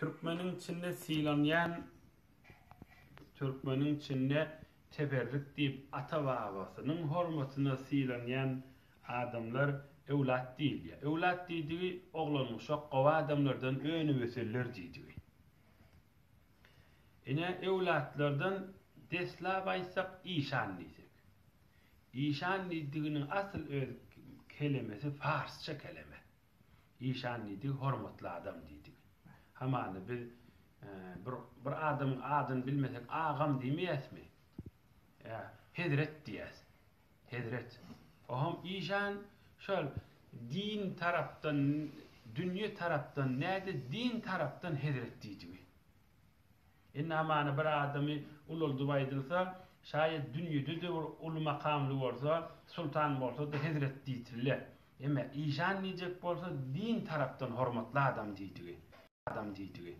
Türkmeniň içinde sylanýan Türkmeniň içinde teberrük diýip ata-babasynyň hormatyna sylanýan adamlar öwlat diýilýär. Öwlat diýdigi oglanuşak gowy adamlardan önübeseller diýdigi. Ine öwlatlardan deslap aýtsak işan diýsek. Işan diýdiginiň asyl öz kelemesi parsça keleme. Işan diýdigi hormatly adam diýdigi. Hamana biz bir bir adamyň adyny bilmesek agam diýmeýäsmi? Ýa hezret diýýäs. Hezret. Oňam işan şol din tarapdan dünýe tarapdan näde din tarapdan hezret diýdigi. Indi hamana bir adamy ulaldyp aýdylsa, şaýat dünýede-de bir uly makamly bolsa, sultan bolsa-da hezret diýsilýär. Emma işan diýjek bolsa, din tarapdan hormatly adam diýdigi.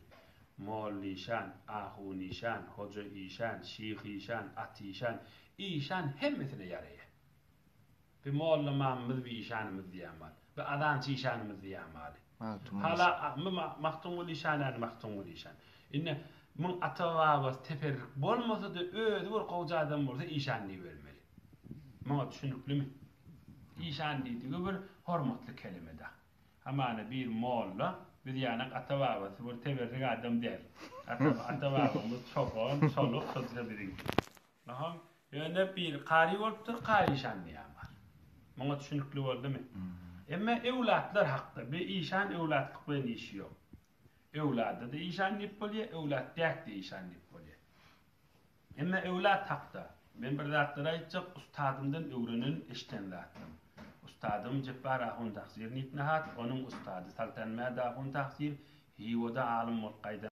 Mollaişan, ahunişan, hojaişan, şyhyşan, atyşan, işan hemmesine ýaraýar. Bi molla mamymyz bi işanymyz diýýän mal. Bi azançy işanymyz diýýän maly. Hala bi Magtymguly işan ýaly Magtymguly işan. Indi muň ata-babasy teperrik bolmasa-da özi bir gowja adam bolsa işan diýibermeli. Muňa düşüniklimi? Işan diýdigi bir hormatly kelime-dä. Hamana bir molla biz ýaly ata-babasy bir teberrik adam däl. Ata-babamyz çoban, çoluk şo-da biziňki. Nahal, ýöne biri kary bolupdyr, kary işandy ýa bar. Muňa düşünikli boldumy? Emma öwlatlar hakda, bi işan öwlatlyk bilen işi ýok. Öwlada-da işan diýip bolýa, öwlat däk-de işan diýip bolýa. Emma öwlat hakda, men bir zatlar aýtjak, ustadymdan öwrenen, eşden zatym. Ustadym Jepbar ahun Tahsir Nitnihat, onuň ustady Saltanmäd ahun Tahsir, Hiwada alym bolup gaýdan.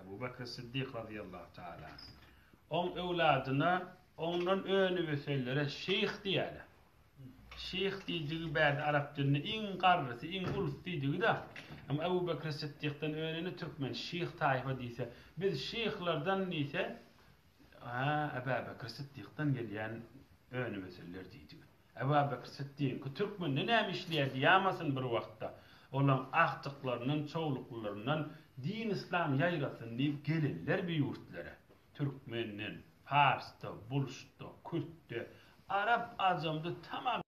Abu Bekr Siddik razyýallahu taala oň öwladyna ondan öni ösenlere şeýh diýýärler. Şeýh diýdigi bärde arap dilinde iň garrysy, iň ulus diýdigi-de. Emma Abu Bekr Siddikden önüne türkmen şeýh taýfa diýse, biz şeýhlerden diýse, Ä, Aba Bekr Siddikden gelýän öni ösenler diýdigi. Ebabekr Sytdyky türkmende näme işleýärdi ýamasyn bir wagtda. Olaň agtyklaryndan, çowluklylaryndan din yslam ýaýrasyn diýip gelenler bi ýurtlara. Türkmenden, parsda, bulşda, kürtde, arap ajamda tamam.